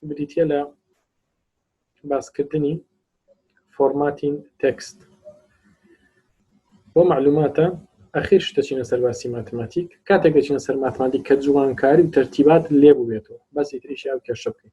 بریتە لە باسکردنی فۆرماتین تەکست بۆ معلوماتە ئەخیر شتەچینە سەرباسی ماتماتیک کاتێک دەچینە سەر ماتماتیک کە جوانکاری و تەرتیبات لێبووێتەوە بەسی تریشی ئەو کێشە بکەین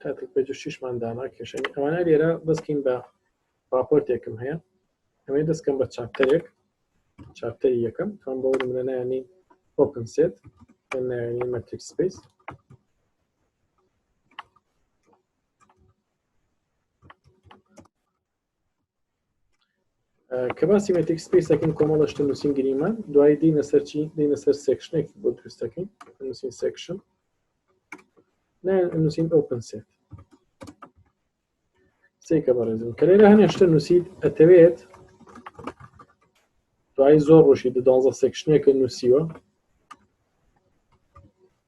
تاتل پێ دوشیشمان دانا کێشەنی ئەوانە لێرە دەستکەین بە راپۆرتێکم هەیە ئەمەی دەستکەم بە چاپتەرێک چاپتەری یەکەم تان بۆ منە نانی ئۆپن سێت نانی مەتریک سپیس کە باسی مەتیک سپیسەکەن کۆمەڵە شتە نووسین گریمان دوای دینە سەرچی دینە سەر سێکشنێک بۆ دروستەکەین نووسین سێکشن نووسین ئۆپن سێت سێکە بەڕێزم کە لێرە هەنێ شتە نووسیت ئەتەوێت دوای زۆر ڕۆژی دو دوازە سێکشنێکە نووسیوە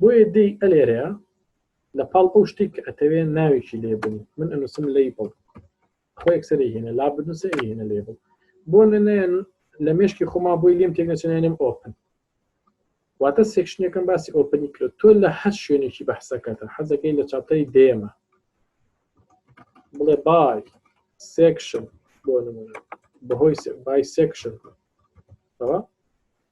بۆیە دێی ئەلێرەیە لە پاڵ ئەو شتێک کە ئەتەوێ ناوێکی لێ بنی من ئەنووسم لی بڵ خۆ یەکسەری هێنە لا بنووسە هێنە لێ بڵ بۆ نەنێن لە مێشکی خۆما بۆی لێم تێک نەچێنێنم ئۆپن واتە سێکشنەکەم باسی ئۆپنی کرد تۆ لە هەر شوێنێکی بەحسەکەتە حەزەکەی لە چاپتەری دێمە بڵێ بای سێکشن بۆ نمونە بەهۆی بای سێکشن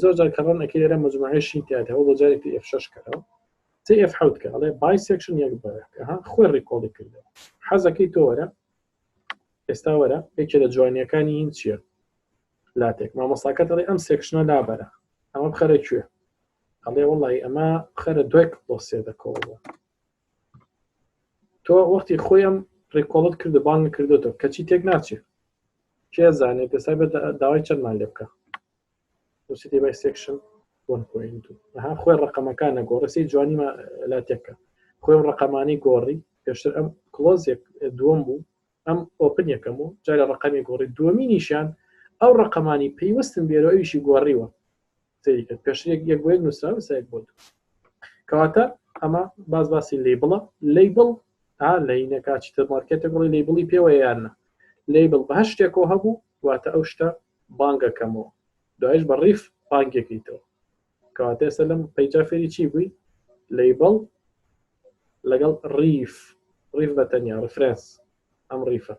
زۆر جار کە ڕەن ئەکەی لێرە مجموعەی شین تیا هەبوو بۆ جارێک تی ئێف شەش کەرەوە تی ئێف حەوت کە ئەڵێ بای سێکشن یەک بەرەکەها خۆی ڕیکۆڵی کردەوە حەزەکەی تۆ وەرە ئێستا وەرە یەکێ لە جوانیەکانی هین چییە لاتێک مامۆساکە دەڵێ ئەم سێکشنە لابەرە ئەمە بخەرە کوێ ئەڵێ وڵی ئەمە خەرە دوای کڵۆسێ دەکەوەوە تۆ وەختی خۆیم ڕێکۆڵت کردو بان کردوتە کەچی تێک ناچێ کێ زانێت پێسا بە داوای چەندمان لێ بکە وسی دێ بای سێکشن بۆن پوینت ها خۆی ڕقەمەکان نەگۆڕسی جوانی لا تێکە خۆی ڕقەمانی گۆڕی پێشتر ئەم کلۆزێک دووەم بوو ئەم ئۆپن یەکەم و جارێ ڕەقەمی گۆڕی دووەمینیشیان ئەو ڕەقەمانی پەیوەستن بێرۆ ئەویشی گۆڕیوە سەیری کرد پێشتر یەک یەک بۆ یەک نووسراوە ئێستا یەک بۆ دوو کەواتە ئەمە باز باسی لەیبڵە لەیبڵ ها لەینەکە چی تر مارکێتێک بڵێ لەیبڵی پێوە یان نە لەیبڵ بە هەر شتێکەوە هەبوو واتە ئەو شتە بانگەکەمەوە دوایش بە ڕیف بانگێکیتەوە کەواتە ئێستا لەم پەیجا فێری چی بووی لەیبڵ لەگەڵ ڕیف ڕیف بە تەنیا ڕفرەنس ئەم ڕیفە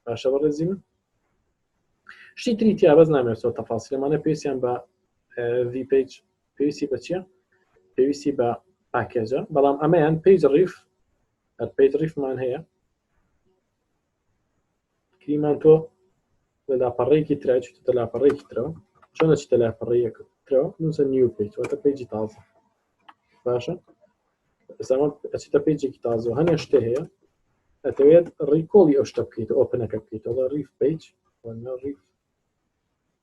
باشە بەڕێزی من شتی تری تیا بەس نامێسەوە تەفاسی لەمانە پێسیان بە ڤی پێج پێویستی بە چییە پێویستی بە پاکێجە بەڵام ئەمەیان پێج ڕیف پێج ڕیفمان هەیە کریمان تۆ لە لاپەڕەیەکی ترا چوتە لاپەڕەیەکی ترەوە چۆن ئەچیتە لاپەڕەیەکە ترەوە نووسە نیو پێج واتە پێجی تازە باشە ئێستاوە ئەچیتە پێجێکی تازەوە هەنێ شتێ هەیە ئەتەوێت ڕیکۆڵی ئەو شتە بکەیت ئۆپنەکە بکەیتەوە ڕیف پێج ڕیف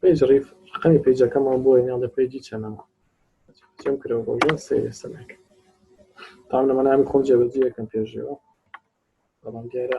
پێج ڕیف قەی پێجەکەمان بۆ ناڵە پێجی چەنەوە چم کرەوە بۆ سێری سەمێک تام لەمە نامی خۆم جێبەجیەکەم پێشەوە بەڵام دیارە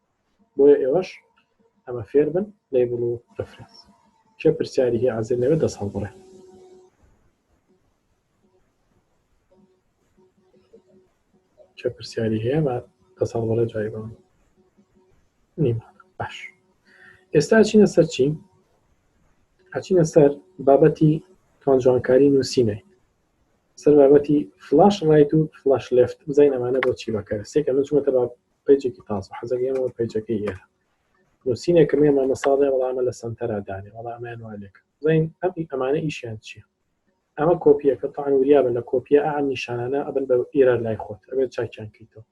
بۆیە ئێوەش ئەمە فێربن لەیبڵ و ڕفرەنس کێ پرسیاری هی عزل نەوێت دەست هەڵبڕێ کێ پرسیاری هەیە با دەست هەڵبڕێ جای بم نیمە باش ئێستا چینە سەر چی ئەچینە سەر بابەتی تۆن جوانکاری نووسینێ سەر بابەتی فلاش ڕایت و فلاش لفت بزین ئەمانە بۆ چی بەکەر سێکە من چونەتە پیجێکی تازە حەزەکە ئێمە پیجەکەی ئێرە نووسینێکە مێ مامە ساڵێ وەڵامە لە سنتەرا دانێ وەڵامیان والێک زین ئەمی ئەمانە ئیشیان چییە ئەمە کۆپیەکە تاان وریا بن لە کۆپیە ئەم نیشانانە ئەبن بە ئێرە لای خۆت ئەبێت چاکیان کەیتەوە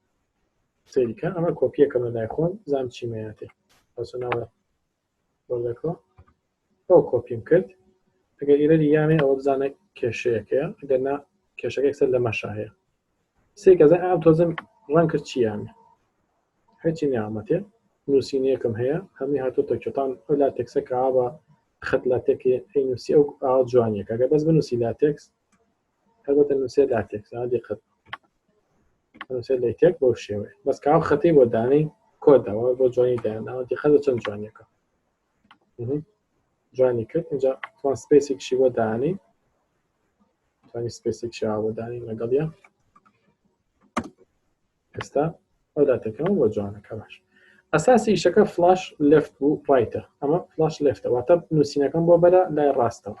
سریکە ئەمە کۆپیەکەمە لای خۆم زام چیمەیاتێ بەسە ناوە بەڵێکۆ بەو کۆپیم کرد ئەگەر ئیرەدی یامێ ئەوە بزانە کێشەیەکەیە ئەگەر نا کێشەکە سەر لە مەشا هەیە سێ گەزە ئام تۆزم ڕەن کرد چیان هەچی نیامەتێ نووسینەکەم هەیە هەمی هاتو تەکێتان ئەو لا تێکسە کە ئاوا خەت لا تێکی ئەی نووسی ئەو ئاوا جوانیەکە گە بەس بنووسی لا تێکس هەربەتە نووسێ لاتێک سادی قەت نووسێ لەتێک بۆ شێوەیە بەس کاو خەتی بۆ دانەی کۆدەوە بۆ جوانی دایانەوە دیخەدە چەند جوانیەکە جوانی کرد اینجا توان سپیسێکشی بۆ دانی توانی سپیسێک شا بۆ دانی لەگەڵ یە ئێستا ئەو داتەکەەوە بۆ جوانەکە باش ئەساسی ئیشەکە فلاش لفت و ڕایتە ئەمە فلاش لفتە واتە نووسینەکەم بۆ بەرە لای ڕاستەوە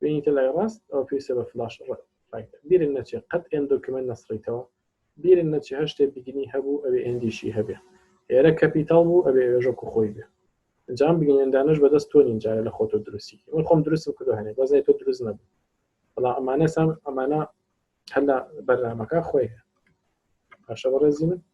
بینیتە لای ڕاست ئەو پێویستە بە فلاش بیرن نەچێت قەت ئێن دۆکیمنت نەسڕیتەوە بیرن نەچێ هەر شتێ بیگنی هەبوو ئەوێ ئێندیشی هەبێ ئێرە کەپیتاڵ بوو ئەبێ ئێژۆک و خۆی بێ ئەنجام بگەێندانش بەدەست تۆ نینجارە لە خۆتۆ دروستی من خۆم دروستم کردو هەنێ بەزای تۆ دروست نەبوو بەڵا ئەمانە سام ئەمانە هەلا بەرنامەکە خۆی پاشە بەڕێزی من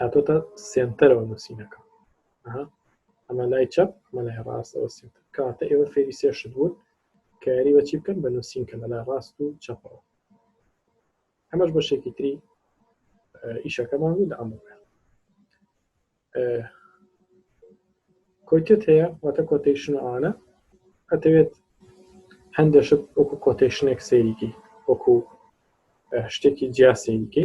هاتۆتە سنتەرەوە نووسینەکە ئەمە لای چەپ مە لای ڕاستەوە سنتەر کاتە ئێوە فێری سێشت بوون کاری بەچی بکەن بە نووسین کە لەلا ڕاست و چەپەوە ئەمەش بە شێکی تری ئیشەکەمان بوو لە ئەمە کۆتێت هەیە واتە کۆتەیشن ئاانە ئەتەوێت هەندێشت وەکو کۆتەیشنێک سەیریکی وەکو شتێکی جیاسەیریکی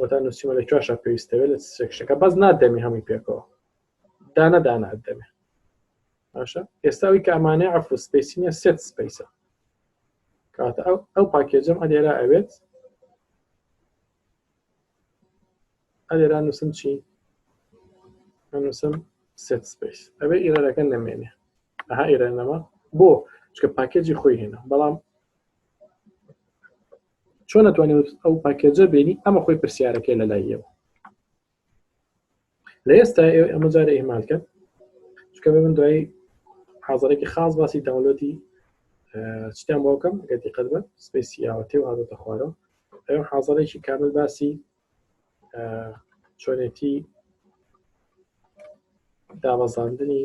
وەتا نووسیمە لە کوێشە پێویستەوێت لە سێکشەکە بەس نادەمێ هەمووی پێکەوە دانە دانە ئەدەمێ باشە ئێستاوی کە ئەمانە ئەف سپیسینە سێت سپیسە کاتە ئەو ئەو پاکێجم ئەلێرا ئەوێت ئەلێرا نووسم چی نووسم سێت سپیس ئەوێ ئیرەکە نەمێنێ ئەها ئیرە نەما بۆ چکە پاکێجی خۆی هێنا بەڵام چۆن ئەتوانێت ئەو پاکێجە بێنی ئەمە خۆی پرسیارەکەی لە لای ئێوە لە ئێستا ئێوە ئەمە جارە ئێمالکە چکە من دوای حاضرێکی خاص باسی داونلۆدی چتیان بۆکەم گەتی قەت بە سپیسی یاوەتێ و هااتە خوارەوە ئەو حاضرێکی کامل باسی چۆنێتی دابەزاندنی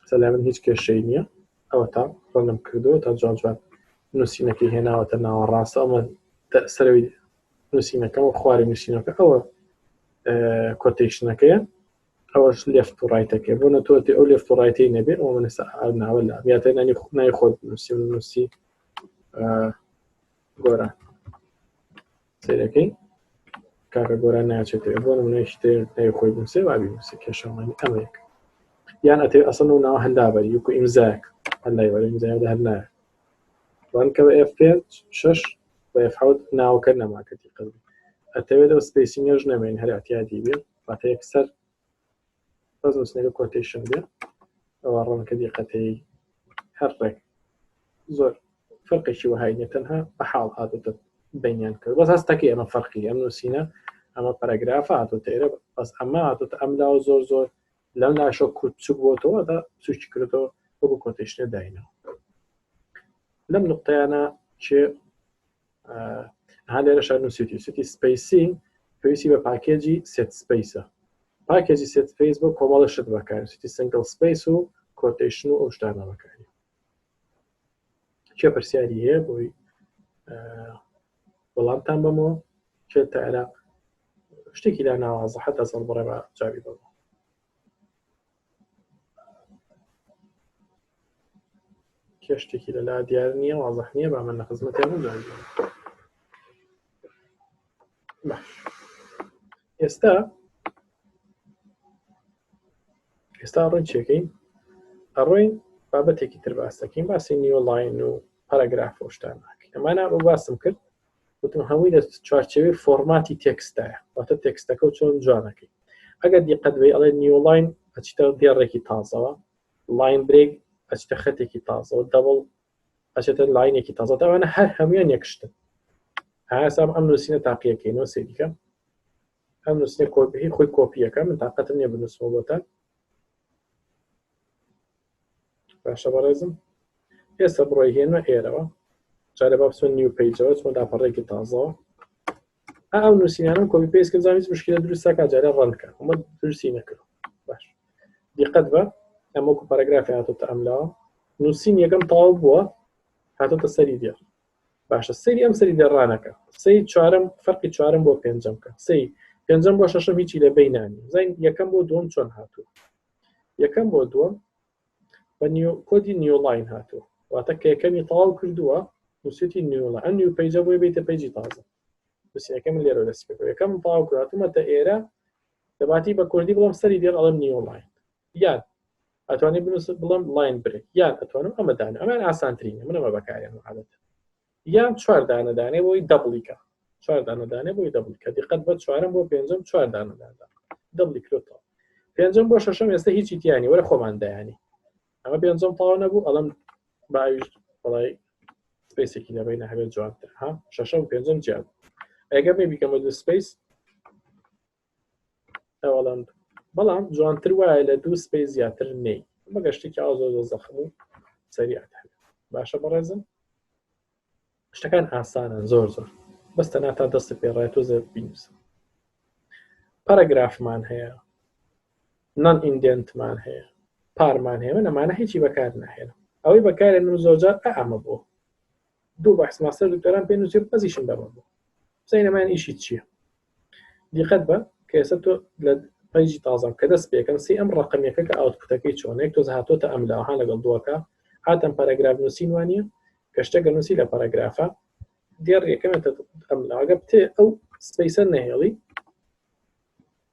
قسە لای من هیچ کێشەی نییە ئەوەتا ڕەنم کردەوە تا جوان جوان نووسینەکەی هێناوەتە ناوە ڕاستە ئەمە سەرەوەی نووسینەکەەوە خوارەوەی نووسینەکە ئەوە کۆتیشنەکەیە ئەوەش لێفت و ڕایتەکە بۆ نەتۆتی ئەو لێفت و ڕایتی نەبێ ئەو من ناوە لە یاتە نانی نای خۆت نووسی نووسی گۆران سەیرەکەی کاکە گۆران ناچێت بۆ نمونەی شتێ نەی خۆی بنووسێ وا بینووسێ کێشەمانی ئەمەیەک یان ئەتێ ئەسەن و ناوە هەندابەر یوک و ئیمزاک هەندای وەرە ئیمزایدا هەر نایە وانکە بە ئێف پێنج شەش بە ئێف حەوت ناوەکە نەماکەتی قەزی ئەتەوێت ئەو سپیسینگەش نەمێن هەر ئەتیادی بێ واتە یەکسەر بەس نووسنەکە کۆتیشن بێ ئەوە ڕەنکە دیقەتەی هەر ڕێک زۆر فەرقێکی وەهای نیە تەنها بە حاڵ هاتێتە بینیان کرد بەس هەستەکەی ئەمە فەرقی ئەم نووسینە ئەمە پەرەگراف هاتۆتە ئێرە بەس ئەمە هاتۆتە ئەم لاوە زۆر زۆر لەم لاشە کورت چوک بۆتەوە دا سوچی کردەوە وەکو کۆتیشنە داینەوە لەم نقطەیانە چێ هەندێرە شار نووسیتی سوتی سپیسی پێویستی بە پاکێجی سێت سپیسە پاکێجی سێت سپیس بۆ کۆمەڵە شت بەکار سوتی سنگل سپیس و کۆتیشن و ئەو شتانە بەکاری کێ پرسیاری هەیە بۆی وەڵامتان بەمەوە کێ تا عێراق شتێکی لا ناوازە حتا سەڵ بڕێ بە جاوی بەمەوە کێشتێکی لەلا دیار نییە وازح نییە با من لە خزمەتی هەمووان باش ئێستا ئێستا ڕوون چێکەین ئەڕۆین بابەتێکی تر باس دەکەین باسی نیۆلاین و پەرەگراف و شتان ناکەین ئەمانە بۆ باسم کرد وتم هەمووی لە چوارچەوەی فۆرماتی تێکستایە واتە تێکستەکە و چۆن جوانەکەی ئەگەر دیقەت بێ ئەڵێ نیولاین ئەچیتە دێڕێکی تازەوە لاین برێک ئەچتە خەتێکی تازەوە دەبڵ ئەچێتە لاینێکی تازە داوانە هەر هەمویان یەکشتن ئاسام ئەم نووسینە تاقیەکەی نۆ سێریکە ئەم نووسنە کۆپی خۆی کۆپیەکە من تااقەتم نیە بنووسمەوە بۆتە باشە بەڕێزم ئێستا بڕۆ هێنە ئێرەوە جارە با بچۆن نیو پیجەوە چۆن لاپەڕێکی تازەوە ئەو نووسینانم کۆپی پێس کرد زانیت مشکلە دروستە کا جارە ڕەنکە ئەمە درستی نەکرد باش دیقەت بە ئەمەکو پەرەگرافی هاتۆتە ئەملا نووسین یەکەم تاو بووە هاتۆتە سەری دێ باشە سری ئەم سری دەڕانەکە سی چوارم فەرقی چوارم بۆ پێنجەم کە سی پێنجەم بۆ شەشم هیچی لە بینانی زین یەکەم بۆ دوم چۆن هاتوو یەکەم بۆ دووەم بە نیو کۆدی نیولاین هاتووە واتە کە یەکەمی تەواو کردووە نووسێتی نیوڵە ئەم نیو پەیجە بۆی بیتە پەیجی تازە بسیەکەم لێرە دەست کرد یەکەم تەواو کراتومەتە ئێرە دەباتی بە کوردی بڵم سەری دێڵ ئەڵم نیولاین یان ئەتوانی بنووسە بڵم لاین برێک یان ئەتوانم ئەمەدان ئەمان ئاسانترینە منەوە بەکارێن عادەت یان چوار دانە دانێ بۆی دەبڵیکە چوار دانە دانێ بۆی دەبڵیکە دیقەت بە چوارم بۆ پێنجم چوار دانە دادا دەبڵیکرێتەوە پێنجم بۆ شەشم ئێستا هیچی تیانی وەرە خۆمان دایانی ئەمە پێنجم تاو نەبوو ئەڵم باویشت بەڵی سپیسێکی لەبین هەبێت جوانتر ها شەشم پێنجم جیاب ئەگەر نەبیکەمە دو سپیس ئەوڵم بەڵام جوانتر وایە لە دوو سپی زیاتر نەی ئەمە گەشتێکی ئاو زۆر زۆر زەخم و سەریعت هەبێت باشە بەڕێزم شتەکان ئاسانە زۆر زۆر بەستە ناتا دەستت پێڕای تۆ زێت بینوسە پەرەگرافمان هەیە نان ئیندنتمان هەیە پارمان هەیە من ئەمانە هیچی بەکار ناهێنم ئەوەی بەکارێنم زۆرجار ئەمە بۆ دوو بەحس ماستەر دکتۆران پێ نووسیم ئەزیشم دەڕۆم بوو سینەمان ئیشی چییە دیقەت بە کە ئێستا تۆ لە پەیجی تازەم کە دەست پێکەم سی ئەم ڕقمیەکە کە ئاوتکوتەکەی چۆنێک تۆز هاتۆتە ئەم لاها لەگەڵ دووەکە هاتم پەرەگراف نووسین وانە کە شتەکە نووسی لە پەرەگرافە دێڕ یەکەمێتە ئەم لاگە بتێ ئەو سپیسەر نەهێڵی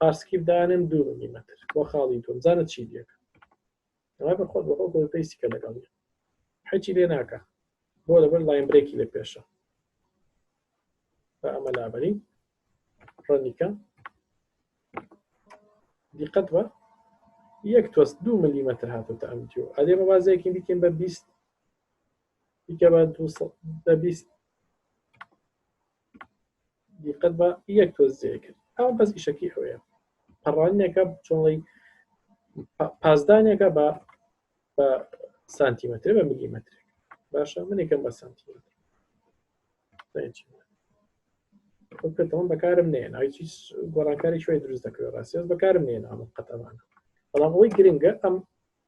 پارسکیف دانم دوو ملیمەتر بۆ خاڵی دوم زانە چی لەکە ڕای بە خۆت بەخۆ گۆل پێیسی کە لەگەڵ حەچی لێ ناکە بۆ لەبەر لاین برێکی لە پێشە بە ئەمە لابەری ڕەنیکە دیقەت بە یەک تۆست دو ملیمەتر هاتوتە ئەم دیو ئەدێ بە بازێکی دیکەین بە بیست دیکە بە بە بیست دیقەت بە یەک تۆزیە کرد ئەو بەس ئیشەکی ئەوەیە پەڕانێکە چۆڵی پازدانێکە بە بە سانتیمەتر بە میلیمەتر باشە منێکم بە سانتیمەتر پێتەوەم بەکارم نێن هیچ گۆڕانکاری شوێ دروست دەکەوێت ڕاستێز بەکارم نێن ئەم قەتەمانە بەڵام ئەوەی گرنگە ئەم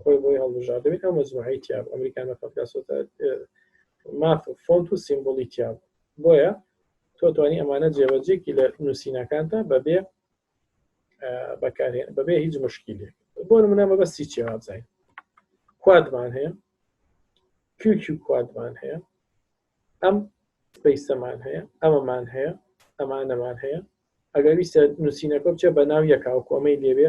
خۆی بۆی هەڵبژاردبێت ئەو مەزموعی تیا بوو ئەمریکا نەفەتکە سۆتە ماف فۆنت و سیمبولی تیا بوو بۆیە تۆ توانی ئەمانە جێبەجێکی لە نووسینەکانتە بەبێ بەکارێن بەبێ هیچ مشکیلێک بۆ منە مەبەستی چێ وابزای کوادمان هەیە کیوکی کوادمان هەیە ئەم سپیسەمان هەیە ئەمەمان هەیە ئەمانەمان هەیە ئەگەر ویستە نووسینەکە بچێ بە ناو یەکاو کۆمەی لێبێ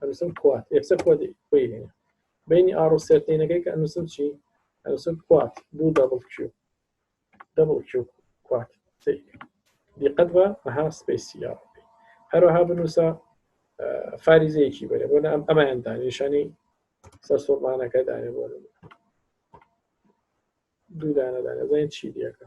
ئەنووسم کوات یەکسەر خۆ خۆی هێنە بینی ئاڕ و سێرتینەکەی کە ئەنووسم چی ئەنووسم کوات دوو دەبڵ کیو دەبڵ کیو کوات دیقەت بە ئەها سپیسی یا هەروەها بنووسە فاریزەیەکی بەرێ بۆ ئەم ئەمایان دانیشانی سەر سۆمانەکە دانێ بۆ دوو دانەدانە زانین چی دیەکە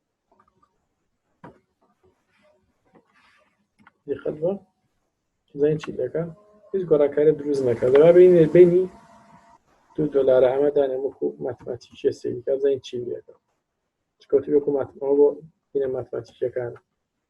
دقت بە زین چی دەکە هیچ گۆڕاکاری دروست نەکە لەوا بینێ بینی دو دلار ئەمە دانێ وەکو ماتماتیکیە سێکە زین چی دەکە چکەوتی وەکو ماتمەوە بۆ بینە ماتماتیکیەکان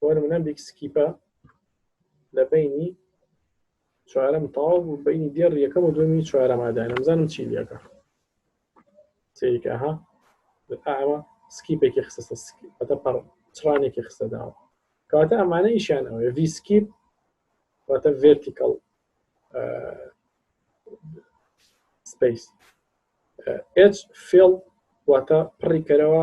بۆ نمونە بیگ سکیپە لە بینی چوارەم تاو و بینی دێڕ یەکەم و دومی چوارەمادا نەمزانم چی لەکە سریکەها ئەمە سکیپێکی خستە سکیپەتە پڕ چڕانێکی خستە داوە کەواتە ئەمانە ئیشیان ئەوێ ڤی سکیپ واتە ڤێرتیکەڵ سپیس ئچ فێڵ واتە پڕی کەرەوە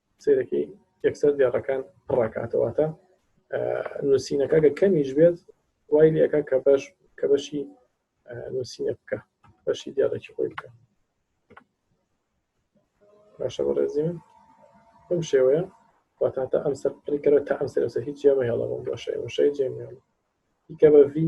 سەیرەکەی یەکسەر دێڕەکان پڕاکاتە واتە نووسینەکە گە کەمیش بێت وای لەکە کە بەش کە بەشی نووسینە بکە بەشی دیارەکی خۆی بکە باشە بە ڕێزی من بم شێوەیە واتە تا ئەم سەر پڕیکەرە تا ئەم سەرسە هیچ جێمە هێڵە بۆم باشە وشەی جێمیێڵ دیکە بە ڤی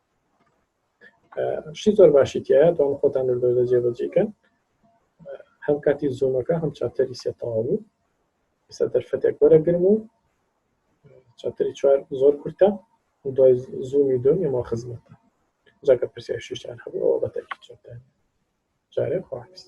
شتی زۆر باشی تایە داڵ خۆتان دەردەوە جێبەجێکەن هەم کاتی زۆمەکە هەم چاپتەری سێتەواو بوو ئستا دەرفەتێک وەرەگرم و چاپتەری چوار زۆر کورتە دوای زوومی دۆن ئێمە خزمەتە جاکە پرسیار شیشتان هەبوو ئەوە بەتەکی چۆتان جارێ خواست